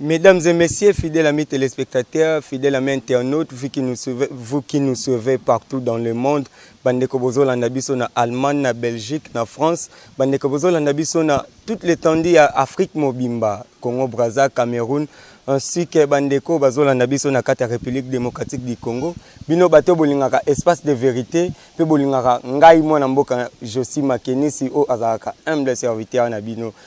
Mesdames et messieurs, fidèles amis téléspectateurs, fidèles amis internautes, vous qui nous suivez, vous qui nous suivez partout dans le monde, bandeko bozolanda biso na Allemagne, na Belgique, na France, bandeko bozolanda biso na toute l'étendue ya Afrique mobimba, Congo Brazza, Cameroun, ainsi que bandeko bazolanda biso na kati ya République démocratique du Congo. Bino bato bolingaka espace de vérité pe bolingaka ngai mwana mboka Josi Makenisi o azalaka humble serviteur na bino.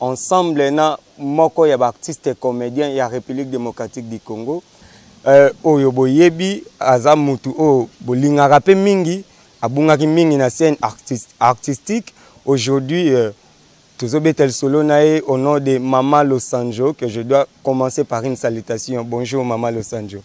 ensemble na moko ya baartiste comedien ya république démocratique du congo euh, oyo boyebi aza mutu oyo bolingaka mpe mingi abungaki mingi na scène artist, artistique aujourd'hui euh, tozobeta lisolo na ye au nom de mama losanjo que je dois commencer par une salutation bonjour mama losanjo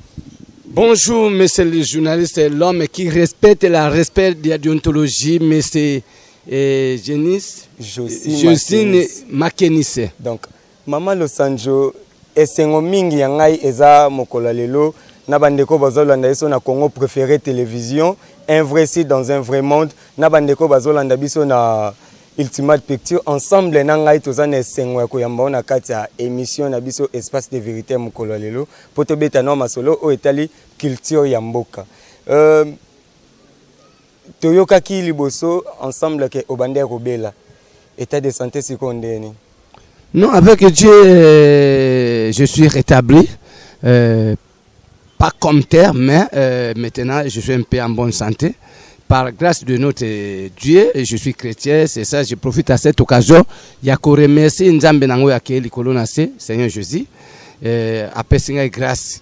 Bonjour, monsieur le journaliste, l'homme qui respecte la respect de la déontologie, monsieur et Janice Josine, Josine Makenise. Donc, Mama Losanjo, esengo mingi ya ngai eza mokolo lelo na bandeko bazolanda biso na Congo préféré télévision un vrai site dans un vrai monde na bandeko bazolanda biso na Ultimate Picture ensemble na ngai toza na esengo ya koyamba ona kati ya émission na biso espace de vérité ya mokolo lelo mpo tobeta na masolo oyo etali culture ya mboka euh, toyokaki liboso ensemble ke obanda ya kobela état de santé sikoyo ndenge nini non avec dieu euh, je suis rétabli euh, pas comme terre mais euh, maintenant je suis un peu en bonne santé par grâce de notre euh, Dieu, je suis chrétien, c'est ça, je profite à cette occasion. Yako remercie Nzambe nango ya ke likolo na se, Seigneur Jésus, euh, apesi ngai grâce.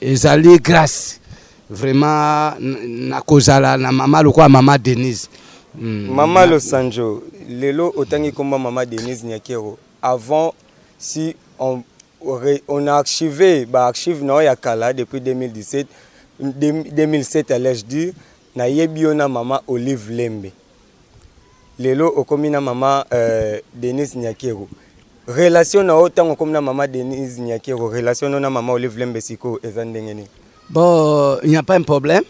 ezali grace vraiment nakozala na mama lokola mama denise mm. mama losanjo lelo otangi komba mama denise nyakero avant si on, on a archivé baarchive na yo ya kala depuis 2017 2007 allais-je dire Na yebi yo na mama olive lembe lelo okomi na mama euh, denise nyakeru relation na yo tango okomi na mama denise nyakeru relation no na mama olive lembe sikoyo eza ndenge nini bon il n'y a pas un problème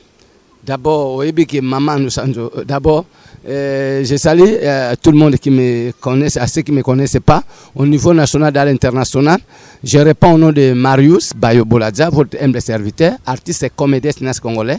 d'abord oyebi que mama nusanzo euh, d'abord euh, je salue euh, tout le monde qui me connaissent, à ceux qui ne me connaissent pas, au niveau national et à l'international. Je réponds au nom de Marius Bayo Boladza, votre humble serviteur, artiste et comédien congolais.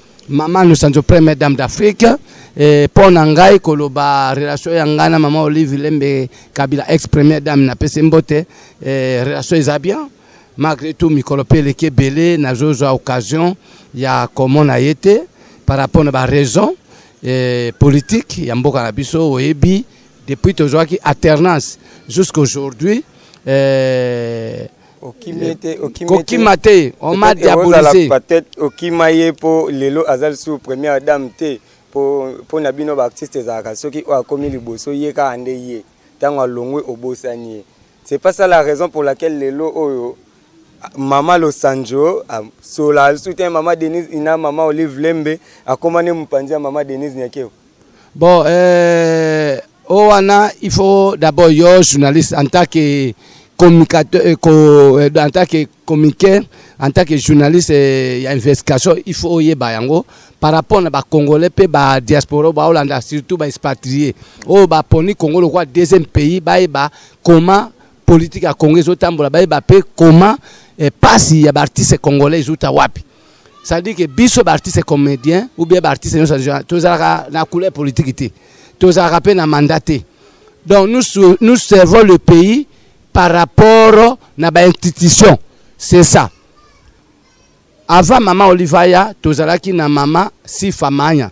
Maman Lusanzo première dame d'Afrique eh, mpo na ngai koloba relation ya ngai na mama Olive Lembe Kabila ex première dame na pese mbote eh, relation eza bien malgré tout mikolo mpe eleki ebele nazozwa occasion ya komona ye te par rapport na baraison eh, politique ya mboka na biso oyebi depuis tozwaki alternance jusqu'aujourd'hui eh, kokima te on m'a diabolisé peut-être okima ye mpo lelo aza lisusu première dame te mpo na bino baartiste ezalaka soki oyo akomi liboso ye kaka nde ye ntango alongwe obosani ye c'est pas ça la raison pour laquelle lelo oyo mama losanjo asola lisusu te mama denise ina mama olive lembe akoma nde mopanzi ya mama denise nyakeo Bon, euh, oh, wana, il faut d'abord, yo, journaliste, en tant que communicateur, euh, euh, en tant que communiqué, en tant que journaliste euh, ya investigation, il faut oyeba yango par rapport na ba congolais pe ba diaspora ba Hollande surtout ba expatriés. Oh ba poni Congo le quoi deuxième pays ba ba comment politique ya Congo ezotambola ba ba pe comment eh, pasi ya ba artistes congolais ezuta wapi. c'est-à-dire que biso baartiste comédien ou bien baartiste nyonso tozalaka na couleur politique te tozalaka mpe na mandat te donc nous, nous servons le pays par rapport na bainstitution c'est ça avant mama olivaya tozalaki na mama sifamanya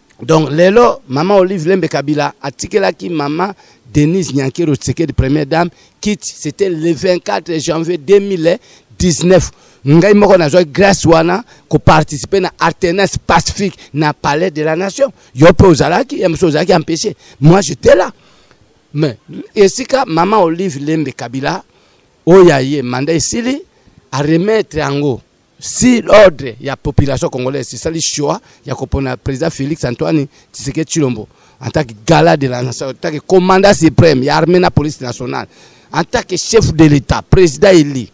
donc lelo mama olive lembe kabila atikelaki mama denise nyankero tshisekedi première dame kit c'était le 24 janvier 2019 ngai moko nazwaki grâce wana koparticipe na artenas pacifique na palais de la nation yo mpe ozalaki ya mosusu ozalaki empêché moi j'étais là mais esika mama olive lembe kabila oyo aye manda esili aremettre yango si l'ordre ya population congolaise esali choix ya kopona président félix antoine tsiseke tshilombo en tant que gala de la nation en tant que commandant suprême ya armée na police nationale en tant que chef de l'état président élu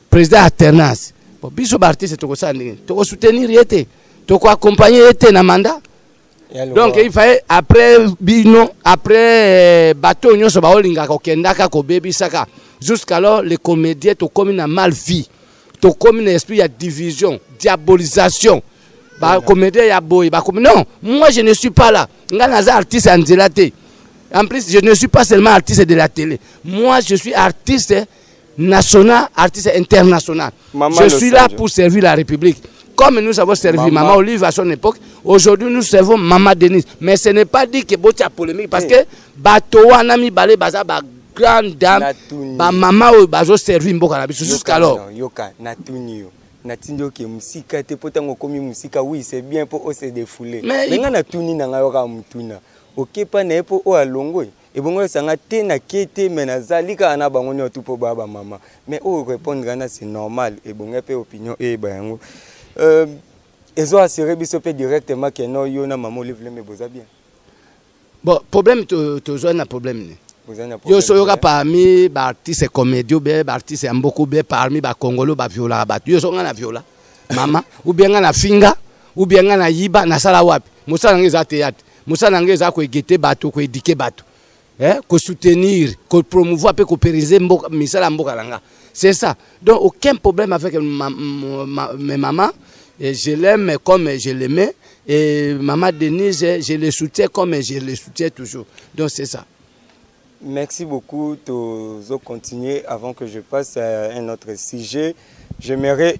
président alternance bon biso baartiste tokosala ndenge tokosoutenir ye te tokoaccompagne ye te na mandat donc il fallait après bino après euh, bato nyonso baolingaka kokendaka kobebisaka jusqu'alors les comédiens tokomi na mal vie tokomi na esprit ya division diabolisation bacomédien ya boye bakomi non moi je ne suis pas là ngai naza artiste ya nzela te en plus je ne suis pas seulement artiste de la télé moi je suis artiste national, artiste international. je suis là pour servir la République. Comme nous avons servi Maman, Maman Olive à son époque, aujourd'hui nous servons Maman Denise. Mais ce n'est pas dit que Boti a polémique parce eh. que Batoa Nami Balé Baza ba grande dame, ba maman oyo bazo servir mboka na biso jusqu'alors. Yoka natuni yo. natindi oke mosika te mpo ntango okomi mosika oui c'est bien mpo ose defoule me ngai natuni na ngai yoka motuna okepa na ye mpo oyo alongwe ebongo esanga te na ke te me nazali kaka na bango niotu mpo baya bamama me oyo oh, répondre ana c'est normal ebonga mpe opinion eyeba yango euh, ezo assurer biso mpe directement ke no yo na mama olive lembe boza bien bon problème tozwa na problème ne yo so oyoka parmi baartiste comédio be baartiste ya mboka obe parmi bakongolo baviolaka bato yo so ngai na viola mama ubie ngai na finga ubie ngai na yiba nasala wapi mosala ngai eza teyate mosala na ngai eza koegete bato koedike bato eh, kosoutenir kopromouvoir mpe koperize misala ya mboka na nga c'est ça donc aucun problème avec ma, ma, ma, mes mamans et je l'aime comme je l'aimais et maman denise je le soutiens comme je le soutiens toujours donc c'est ça merci beaucoup tozo continuer avant que je passe à un autre sujet j'aimerais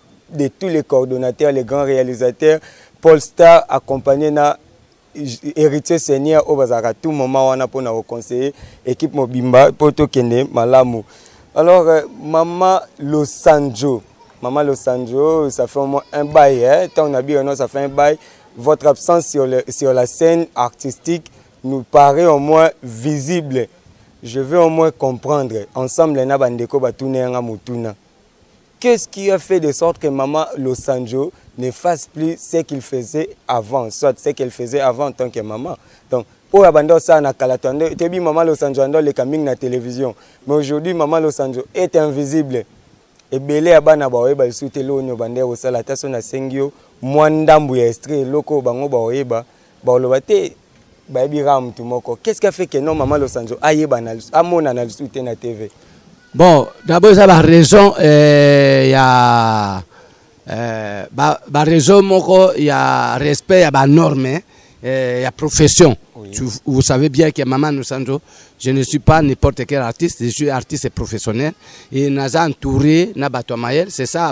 de tous les coordonnateurs, les grands réalisateurs, Paul Star accompagné na héritier seigneur oyo bazalaka tout moment wana mpo na koconseille équipe mobimba mpo tokende malamu alors euh, mama losanjo mama losanjo ça fait au moins un bail hein? ntango na bino non ça fait un bail votre absence sur, le, sur la scène artistique nous paraît au moins visible je veux au moins comprendre ensemble na bandeko batuna yanga motuna Qu'est-ce qui a fait de sorte que maman Losanjo ne fasse plus ce qu'il faisait avant, soit ce qu'elle faisait avant en tant que maman. Donc, oyo abanda osala na kala tande toyebi mama losanjo anda oleka mingi na télévision mais aujourd'hui mama losanjo est invisible ebele ya bana baoyeba lisusu te eloko nini obanda ya kosala ata so nasengi yo mwa ndambo ya estre eloko oyo bango baoyeba Boloba te bayebi kaka motu moko. Qu'est-ce qui a fait que non maman Losanzo ayebana amonana lisusu te na TV? Bon, d'abord eza ba raison eh, ya eh, ba, ba raison moko ya respect ya ba norme eh, ya profession. Oui. Tu, vous savez bien que maman Losanzo je ne suis pas n'importe quel artiste, je suis artiste professionnel et naza entouré na bato ya mayele, c'est ça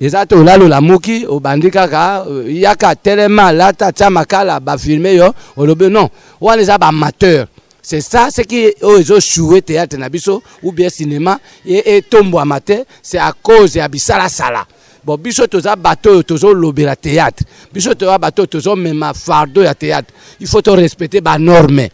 eza te olali olamuki obandi kaka euh, yaka telema lata tya makala bafilme yo olobi non wana eza baamateur c'est ça ce qui oyo ezochoue théâtre na biso ou bien cinéma etombwama te c'est à cause ya bisalasala bon biso toza bato oyo tozolobela théâtre biso toza bato oyo tozomema fardeau ya théâtre il faut torespecte banorme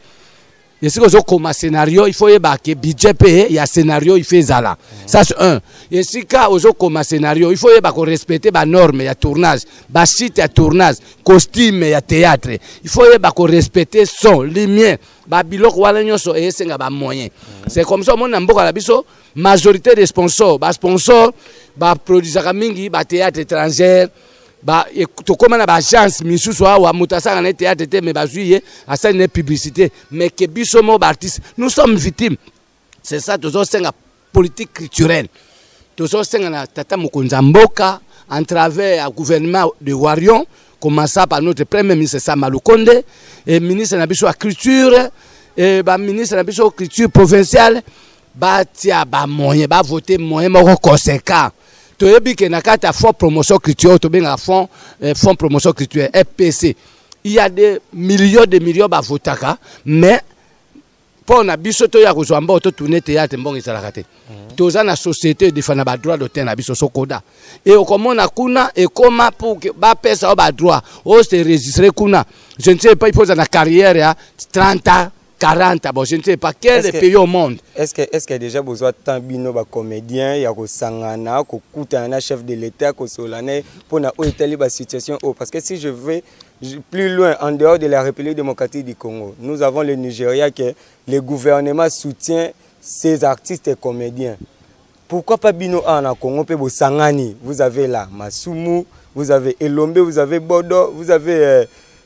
esika ozokoma scenario il faut oyeba ke budget mpe ya scenario il faut ezala ça c'est un esika ozokoma scenario il faut oyeba korespecte banorme ya tournage basite ya tournage costume ya théâtre il faut oyeba korespecte son lumière babiloko wana nyonso esenga bamoyen c'est comme ça omoni na mboka na biso majorité des sponsors basponsor baproduisaka mingi bathéâtre étrangère ba e, tokoma na baagence misusu awa moto asala na ye théâtre te mais bazwi ye asali na ye publicité mais ke biso moko baartiste nous sommes victime c'est ça tozosenga politique culturelle tozosenga na tata mokonzi ya mboka en travers ya gouvernement de warion commença par notre premier ministre sama lukonde et ministre na biso ya culture et baministre na biso culture provinciale batia bamoyen bavote moyen moko conséquent toyebi ke na kati ya fonds promotion culturelle tobengaka fonds eh, fonds promotion culturelle fpc il y a des millions de millions bavotaka mais mpo na biso toya kozwa mbongo totourne théâtre mbongo ezalaka te mhm. toza na société edefanda badroit d'auteur na biso sokoda e okomona kuna ekoma pour bapesa yo badroit ose registre kuna je ne sais pas ipoza na carrière ya 30 ans 40 ah bon je ne sais pas quel est pays au monde est ce que est ce que déjà besoin tant bino ba comédien ya ko sangana ko kutana na chef de l'état ko solane pona o etali ba situation oh parce que si je vais plus loin en dehors de la République démocratique du Congo nous avons le Nigeria que le gouvernement soutient ces artistes et comédiens pourquoi pas bino a na Congo pe bosangani vous avez là Masumu vous avez Elombe vous avez Bodo vous avez euh,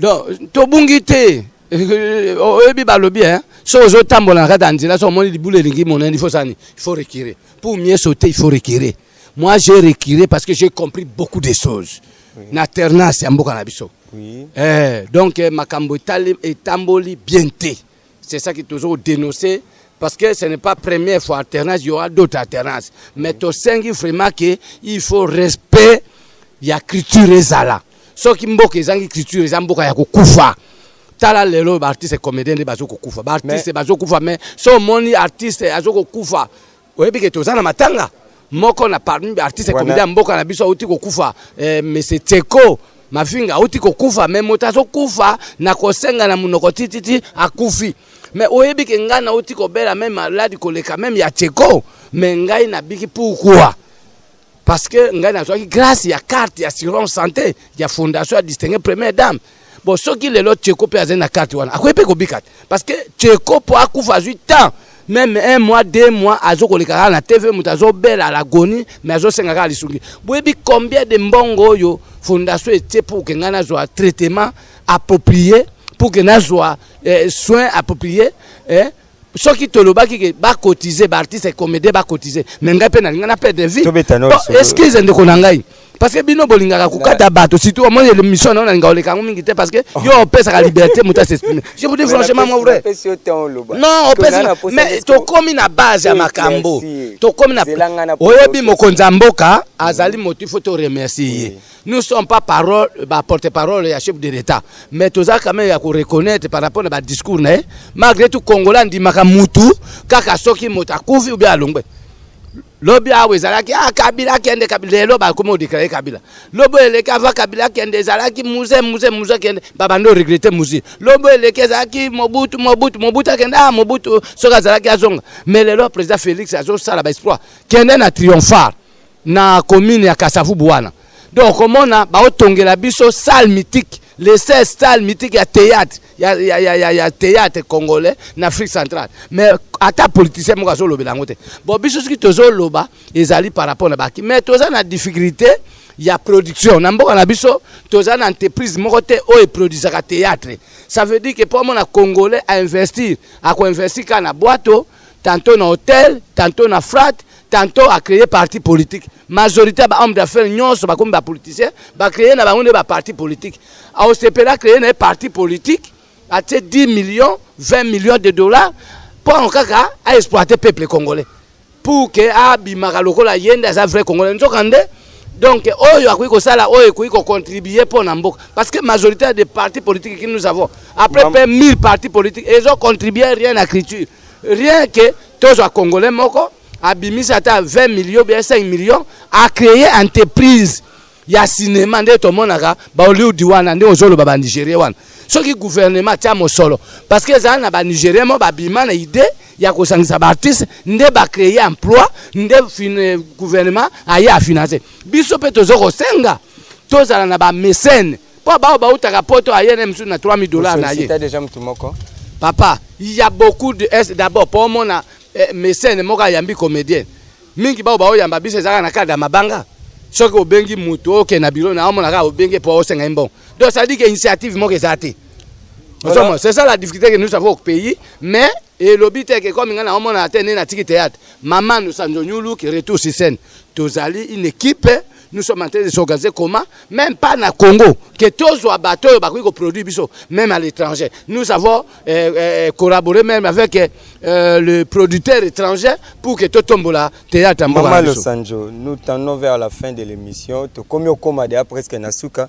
donc tobungi te oyebi balobi hein so ozotambola na kati ya nzela so omoni libulu elingi monene il faut sani il faut reculer pour mieux sauter il faut reculer moi j'ai reculer parce que j'ai compris beaucoup de choses oui. na ternance ya mboka na biso oui. eh, donc eh, makambo etamboli bien te C'est ça qui toujours dénoncé parce que ce n'est pas première fois alternance, il y aura d'autres alternaces. Mais au sein vraiment que il faut respect ya culture ezala. Soki mboka ezangi culture eza mboka ya kokufa. tala lelo baartiste comédien nde bazokokufa baartiste bazokufa mais so omoni artiste azokokufa oyebi ke toza na matanga moko na parmi ba artiste komedi ya mboka na biso auti kokufa eh, monsieur tseko mafinga auti kokufa me moto azokufa na kosenga na monoko tititi akufi me oyebi ke ngai nauti kobela meme maladi koleka meme ya tseko me ngai nabiki pourkua parce que ngai nazwaki grâce ya carte ya assurance santé ya fondation ya distingue première dame bon soki lelo tcheko mpe azali na carte wana akoki mpe kobika te parce que tcheko mpo akufa azwi temps meme un mois deux mois azo koleka kaka na tv moto azobela alagoni mais azosenga kaka lisungi boyebi combien de mbongo oyo fondation etie pour ke ngai nazwa traitement approprié pour ke nazwa eh, soin approprié eh, soki tolobaki ke bakotize baartiste comédien bakotize me ngai mpe nalinga na pede vie excuse ndeko na ngai parce que bino bolingaka kokata bato surtout omoni émission nao nalinga oleka yango mingi te parce que oh. yo opesaka liberté moto asexprime je vous dis franchement mon vrai non opesi mais tokomi na base ya makambo tokomi na oyebi mokonzi ya mboka azali moto il faut to remercier ye Nous sommes pas parole, ba porte-parole ya chef de l'État, mais toza quand même ya ko reconnaître par rapport na ba discours na ye. Malgré tout Congolais ndimaka mutu kaka soki moto akufi ou bien alongwe. Lobi awa ezalaki ah Kabila akende Kabila lelo bakomi odeklare Kabila. Lobo eleki ava Kabila akende ezalaki muze muze muze akende babando regrette muze. Lobo eleki ezalaki Mobutu Mobutu Mobutu akende ah Mobutu soki azalaki azonga. Mais lelo président Félix azosala ba exploit. Kende na triomphale. na commune ya Kasavubu wana donc okomona baotongela biso salle mythique le 16 salle mythique ya théâtre ya, ya, ya, ya, ya théâtre congolais na Afrique centrale mais ata politicien moko azolobela yango te bon biso soki tozoloba ezali par rapport na baki mais toza na difficulté ya production na mboka na biso toza na entreprise moko te oyo eproduisaka théâtre ça veut dire que mpo amona congolais ainvestir akoinvestir kaka na bwato tantôt na hôtel tantôt na frate tantôt a créé parti politique majorité ya bahomme d'affaires nyonso bakomi bapoliticien bacréé na bango nde baparti politique aosepele acréé na ye parti politique atie 10 millions 20 millions de dollars mpo kaka aexploite peuple congolais pour ke abimaka lokola ye nde aza vrai congolais nzoka nde donc oyo akoki kosala oyo ekoki kocontribue mpo na mboka parce que majorité ya des partis politiques qui nous avons après pe 1000 partis politiques ezocontribue rien na culture rien que tozwa congolais moko abimisi ata 20 millions bien 5 millions a créer entreprise ya cinéma nde tomonaka bahollywood wana nde ozoloba banigérien wana soki gouvernement atya mosolo parce que ezala na banigérien mo babima na idée ya kosangisa baartiste nde bacreye emploi nde gouvernement aye afinance biso mpe toza kosenga tozala na bamesene mpo baoyo bautaka poto aye na mosusu na 3000 dollars na ye déjà motu moko papa ya beaucoup de est d'abord mpo omona eh, mesene moko ayambi comédienne mingi baoyo baoyamba biso ezalaka na kade ya mabanga soki obengi motu oke na biro na omona kaka obenge mpo osenga ye mbongo donc ça dit que initiative moko eza te Voilà. C'est ça la difficulté que nous avons au pays. Mais, et l'obité que comme on a atteint un théâtre, Maman nous sommes venus, qui retourne sur scène. Tous allés, une équipe, nous sommes en train de s'organiser comment même pas na Congo que tozwa bato oyo bakoki koproduire biso même à l'étranger nous avons euh, euh, collaboré même avec euh, le producteur étranger pour que totombola théâtre mboka biso Maman Losanjo nous tendons vers la fin de l'émission tokomi okoma deya presque na suka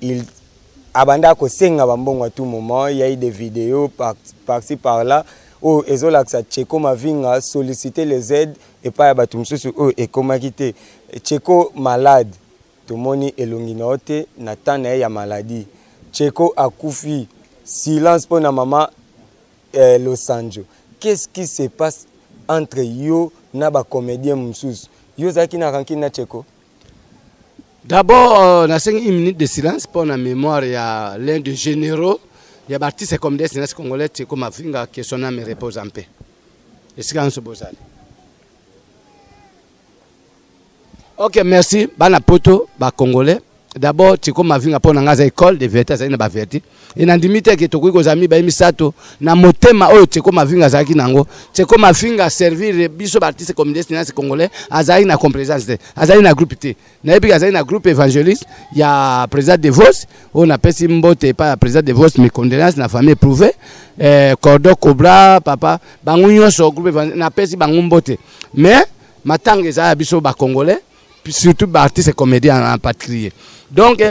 il abanda kosenga bambongo à tout moment il y a eu des vidéos par, par ci par là oyo oh, ezolakisa cheko mavinga sollicite les aides epai ya bato mosusu oyo oh, ekomaki te cheko malade tomoni elongi na yo te na temps na ye ya maladie cheko akufi silence mpo na mama eh, losanjo qu'est-ce qui se passe entre yo na bacomédien mosusu yo ozalaki na rankine na cheko D'abord, euh, na une minute de silence pour la mémoire ya l'un des généraux ya b'artiste comme des nasi congolais Tiko Mavinga que son âme repose en paix. Esika nso bozali. Ok, merci. Bana poto, ba congolais. D'abord, Tiko Mavinga pour na école de vérité, ça na ba vérité. e nandimi te ke tokoki kozala mibale misato na motema oyo teko mavinga azalaki na yango teko mavinga servir biso baartiste communiste nasi congolais azalaki na complaisance te azalaki na groupe te nayebi ke azalaki na groupe évangéliste ya président de vos oyo napesi mbote epai ya président de vos mes condoléances na famille éprouvé eh, cordon cobra papa bango nyonso groupe napesi bango mbote mais matanga ezala ya biso bacongolais surtout ba artistes comédiens en particulier donc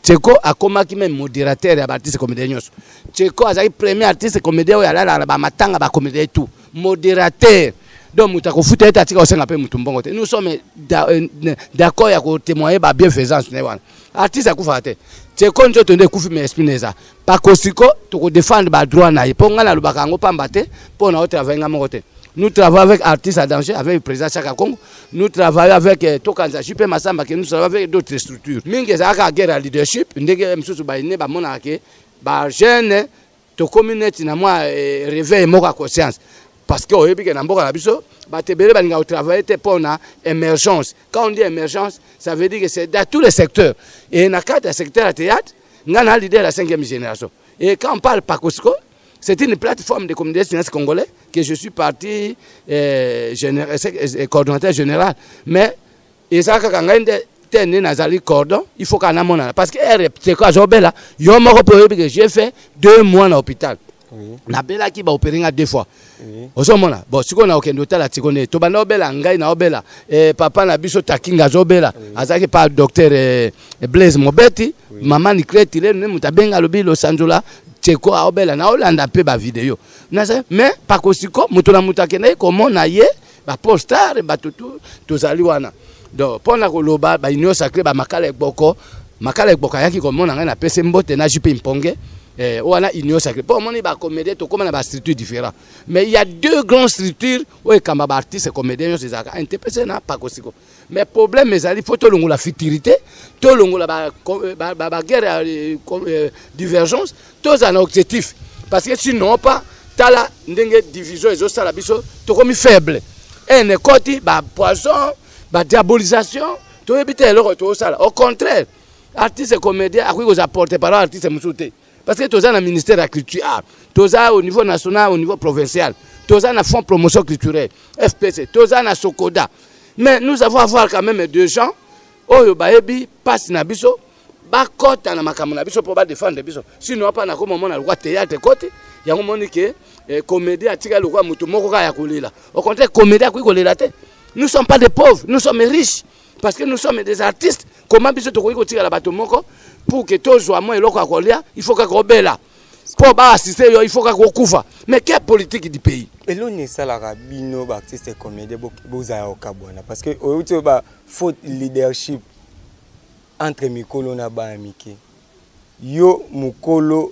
Tcheko akomaki même modérateur ya ba artistes comédiens nyonso Tcheko azalaki premier artiste comédien oyo alalaka na bamatanga bacomédien tout modérateur donc moto akofuta ete atika kosenga mpe moto mbongo te nous sommes euh, d'accord ya kotémoigner babienfaisance na ye wana artiste akufaka te Tcheko nzoto nde ekufi mais esprit na eza pakosiko toko défendre ba droit na ye mpo ngai nalobaka yango pamba te mpo na otravaille ngai moko te nous travaillons avec artiste à danger avec le président chaka congo nous travaillons avec euh, tokanza jupe masamba ke nous travaillons avec d'autres structures mingi ezalaka guerre ya leadership ndenge mosusu baine bamonaka ke bajeune tokomi neti na mwa euh, réveil moko ya conscience parce que oyebi ke na mboka na biso bato ebele balingaka kotravaille te mpo na émergence quand on dit émergence ça veut dire que c'est dans tous les secteurs et na kati ya secteur ya théâtre nga na leader ya 5e génération et quand on parle pakosiko c'est une plateforme de communauté sciences congolais que je suis parti euh, général, euh, euh, euh, coordonnateur général mais eza kaka ngai nde te nde nazali cordon il faut kaka namonana parce que ere teko azobela yo moko mpe oyebi que j'ai fait deux mois na hôpital nabelaki baopere nga deux fois ozomona bon sikoyo na okende otala tiko nde tobanda obela ngai na obela eh, papa na biso takinga azobela azalaki pa docteur eh, blaise mobeti mama nikleti lelo nde moto abenga alobi losanzola teko aobela naolanda mpe bavideo mais pakosiko moto na moto akendaki komona ye ba pole star bato tu tozali wana donc mpo na koloba ba union sacré ba makala ekboko makala ekboko ayaki komona ngai napesi mbote na jupe mponge eh, wana union sacré mpo omoni bacomédien tokóma na bastructure différent mais il y a deux grands structures oyo ekamba baartiste comédien nyonso ezalaka intepese na pakosiko mais problème ezali faut tolongola futurité tolongola baguerre ba, ba, ba ya euh, euh, divergence tozala na objectif parce que sinon pas tala ndenge division ezosala biso tokomi faible ene ekoti bapoison badiabolisation toyebi te eloko tozosala au contraire artiste comédien akoki kozala porte parole artiste mosusu te parce que toza na ministère ya culture ah, toza au niveau national au niveau provincial toza na fonds promotion culturelle fpc toza na sokoda mais nous avons avoir quand même de gens oyo bayebi mpasi na biso bakɔta na makambo na biso mpo badefendre biso sino apa nakoma omona lokwa théâtre ekoti yango omoni ke eh, comédie atikali lokwa moto moko kaka ya kolela au contraire comédie akoki kolela te nous sommes pas des pauvres nous sommes riches parce que nous sommes des artistes comment biso tokoki kotikala bato moko pour que tozwa mwa eloko ya kolia il faut kaka obela mpo baassiste yo il faut kaka okufa mais quelle politique du pays eloni esalaka bino baartiste comédien bozala kokabwana parce que oyeuti oyo bafaute leadership entre mikolo na bana mike yo mokolo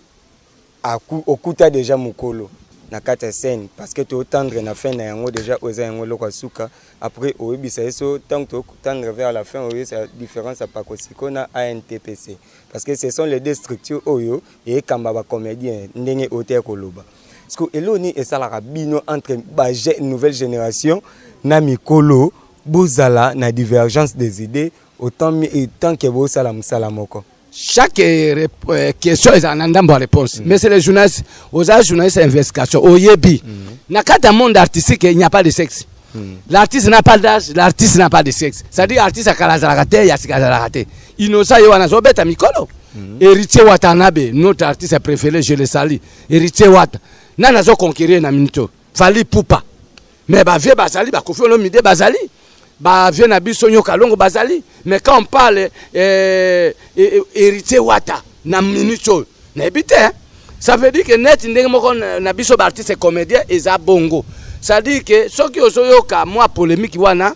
Okuta deja mukolo na kati ya scène parce que to tendre na fin na yango deja oyo eza yango eloko ya suka après oyebisa ye so ntango to tendre vers la fin oyebisa différence ya pakosiko na antpc parce que ce sont les deux structures oyo ekamba bacomédien ndenge oyo te koloba siko eloko nini esalaka bino entre ba nouvelle génération na mikolo bozala na divergence des idées autant, autant que bosala mosala moko chaque euh, euh, question ezala na ndambo ya réponse mm. mais c'est le journaliste oza journaliste ya investigation oyebi mm. na kati ya monde artistique il n'y a pas de sexe mm. l'artiste n'a pas d'âge l'artiste n'a pas de sexe c'est à dire artiste ya kala azalaka te ya sika azalaka te innocent ye wana azobeta mikolo mm. héritier watanabe notre artiste préféré je le sali héritier wata nani azoconquérir na minute oyo Fally Ipupa. Mais ba vieux bazali ba Koffi Olomide bazali. Ba vieux na biso nyoka longo bazali. Mais quand on parle euh, héritier Wata na minute oyo na ebite hein? ça veut dire que net ndenge moko na biso ba artiste comédien eza bongo ça veut dire que soki ozoyoka mwa polémique wana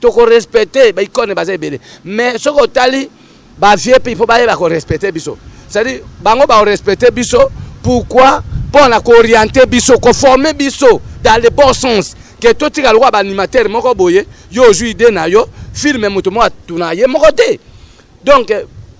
toko respecte ba icone baza ebele mais soki otali ba vieux mpe il faut bayeba ko respecte biso c'est à dire bango ba respecte biso pourquoi mpo na kooriente biso koforme biso dans le bon sens ke totika lokola baanimateur moko boye yo ozwi ide na yo filme moto moko atuna ye moko te donc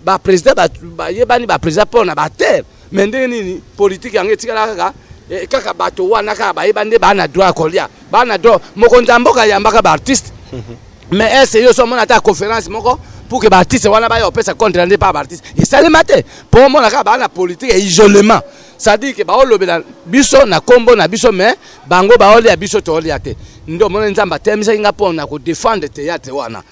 baprésident bayebani baprésident mpo na batere Mais ndenge nini politique yango etikala kaka eh, kaka bato wana kaka bayeba nde baa na droit ya kolia baa na droit mokonzi ya mboka ayambaka baartiste mhm. mais ese yo so omona ata conférence moko pour que baartiste wana baya kopesa contre nde pa baartiste esalema te mpo omona kaka baa na politique ya isolement c'est-à-dire ke baolobela biso na nkombo na biso mais bango baolia biso toolia te nde omoni nzambe atemisaki ngai mpo na kodefendre théâtre wana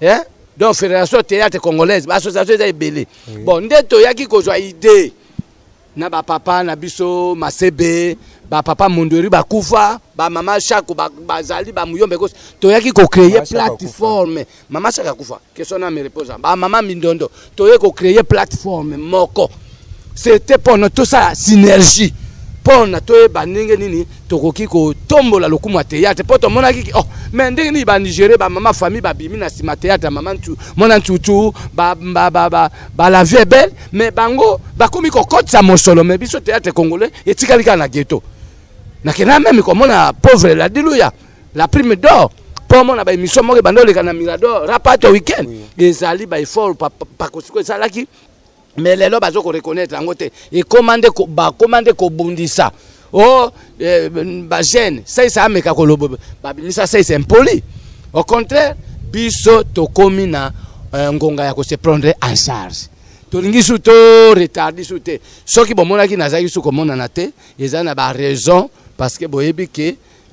eh? donc fédération théâtre congolaise baassociation eza ebele oui. bon nde toyaki kozwa idée na bapapa na biso masebe bapapa mondori bakufa bamama shako bazali ba bamuyombe kosi toyaki kocreye plateforme mama shako akufa question na me repose bamama mindondo toye ko créer plateforme moko c'était pona tosala synergie pona toyeba ndenge nini tokoki kotombola lokumu ya théâtre mpo tomonaki oh, mais ndenge nini banigere bamama famille babimi na nsima théâtre ya mama mwana ntutu balavi ebele mais bango bakomi kokotisa mosolo mais biso théâtre congolais etikali kaka na ghetto nakenda meme komona pauvre ladiluya la prime d'or mpo omona baémission moko ebanda oleka na mirador rapate weekend ezali baeffort pakosiko esalaki mais lelo bazo koreconnaitre yango te ekoma nde bakoma nde kobundisa o oh, eh, bagene saisa ameka koloba babimisa saisa impoli au contraire biso tokomi na eh, ngonga ya kose prendre en charge tolingi su to retardi su te soki bomonaki nazalaki su komonana te eza na baraison parce que boyebi ke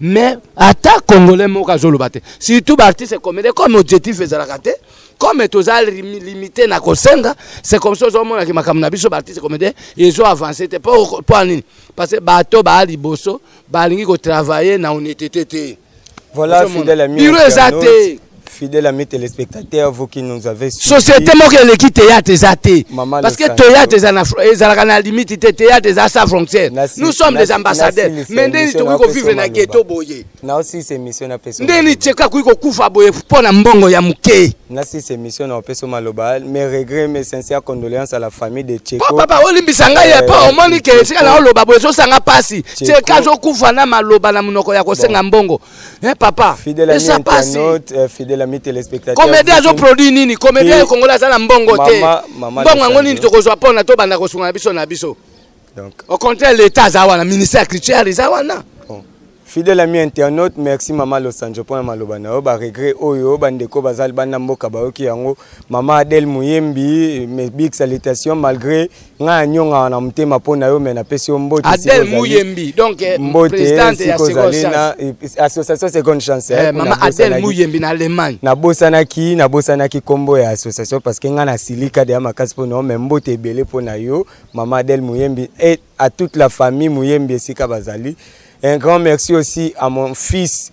mais ata congolais moko azoloba te surtout baartiste comédien comme objectif ezalaka te comme toza limité na kosenga c'est comme ça ozomonaki makambo na biso baartiste comédien ezo avance te mpo ya nini parce que bato baa liboso balingi kotravaille na honnêteté te voilà fidèle ami biro eza te Fidèle ami téléspectateur, vous qui nous avez suivi. Société moko eleki théâtre eza te. Parce que théâtre eza na ezalaka na limite te, théâtre eza sa frontière. Nous sommes des ambassadeurs. Mais ndeni tokoki ko vivre na ghetto boye. Na aussi c'est mission na peso. Ndeni cheka koki ko kufa boye pour na mbongo ya muke. Na si c'est mission na peso maloba, mes regrets, mes sincères condoléances à la famille de Cheko. Papa papa olimbisa ngai ya pa omoni ke sika na oloba boye so sanga pasi. Cheka zo kufa na maloba na munoko ya ko senga mbongo. Eh papa, fidèle ami internaute, euh, fidèle ami téléspectateur. Comédien azo produit nini? Comédien congolais aza na mbongo te. Mbongo yango nini tokozwa pona to banda kosunga na biso na biso. Donc au contraire l'état aza wana ministère culturel eza wana. Fidèle ami internaute, merci maman Los Angeles pona maloba na yo ba regret oyo bandeko bazali banda mboka bayoki yango. Maman Adèle Muyembi, mes big salutations malgré nga ya nyonga na motema mpo na yo me napesi yo mbote adel muyembi donc eh, présidente ya ozali na eh, association seconde chance eh, mama adel muyembi na allemagne nabosanaki nabosanaki nkombo ya association parce que nga na silika deya makasi mpo na yo me mbote ebele mpo na yo mama adel muyembi et à toute la famille muyembi esika bazali un grand merci aussi à mon fils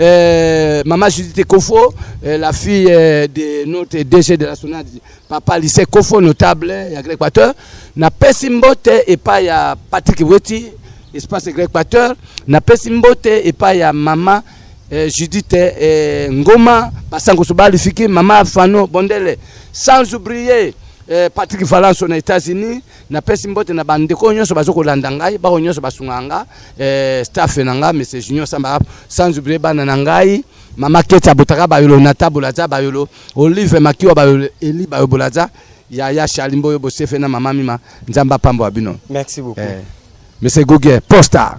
Euh, Maman Judith Kofo, euh, la fille euh, de notre DG de la Sonade, Papa Lycée Kofo, notable, il y a Greg Pater. Na pesi mbote et pas ya Patrick Weti, espace Greg Pater. Na pesi mbote et pas ya Maman euh, Judith euh, Ngoma, Passango Soba, Lufiki, Maman Fano Bondele. Sans oublier euh, Patrick Valence aux États-Unis. napesi mbote na bandeko oyo nyonso bazo kolanda ngai baoyo nyonso basungaka nga eh, staff na nga monsieur junior samba sans oublier bana na ngai mama keti abotaka bayolo nata bolaza bayolo olive makiwa bayolo eli bayo bolaza yaya charli mboyo bosefe na mama mima nzambe apambola bino merci beaucoup eh, monsieur gugie posta